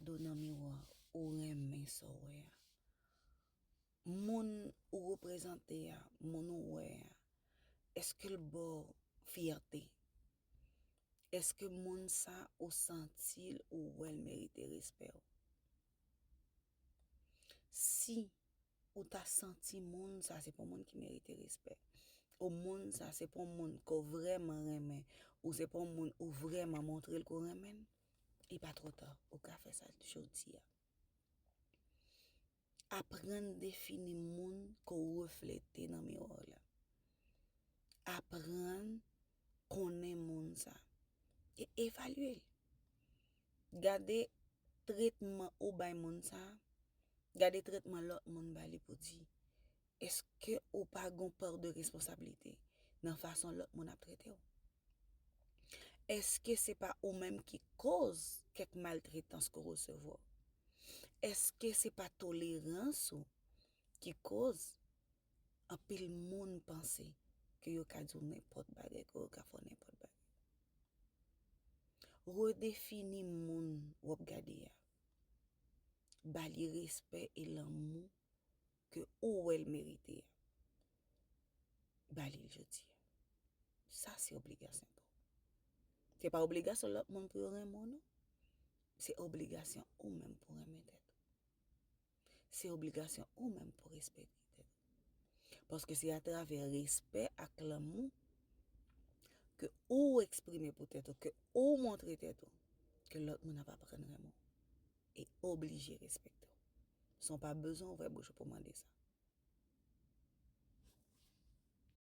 Do nan miwa ou renmen sa w wè a Moun ou reprezante a Moun ou wè a Èske l ba w fyète Èske moun sa ou santi l ou wè l merite respè w Si ou ta santi moun sa se pa w moun ki merite respè Ou moun sa se pa w moun ke w vrèman renmen Ou se pa w moun ou vrèman montre l ke w renmen l Li pa twò ta, ou ka fè sa jodi a. Aprann defini moun ke w reflete nan miwa w la. Aprann konnen moun sa e evalye l. Gade tretman ou bay moun sa, gade tretman lòt moun ba li pou di, Eske ou pa gen yon part de responsabilité nan fason lòt moun ap trete w? Eske se pa ou menm ki koz kèk maltretans ke w resevwa? Eske se pa tolerans ou ki koz anpil moun panse ke yo ka di w nenpòt bagay, ke yo ka fè w nenpòt bagay? Redefini moun wap gade a. Ba li respè e lanmou ke ou wèl merite a ba lil jodi a sa se obligasyon pa ou se pa obligasyon lòt moun pou yo renmen w non se obligasyon ou menm pou renmen tèt ou se obligasyon ou menm pou respekte tèt ou paske se atravè respè ak lanmou ke ou eksprime pou tèt ou ke ou montre tèt ou ke lòt moun ap aprann renmen w. e oblije respekte w. San w pa bezwen ouvè bouch ou pou w mande sa.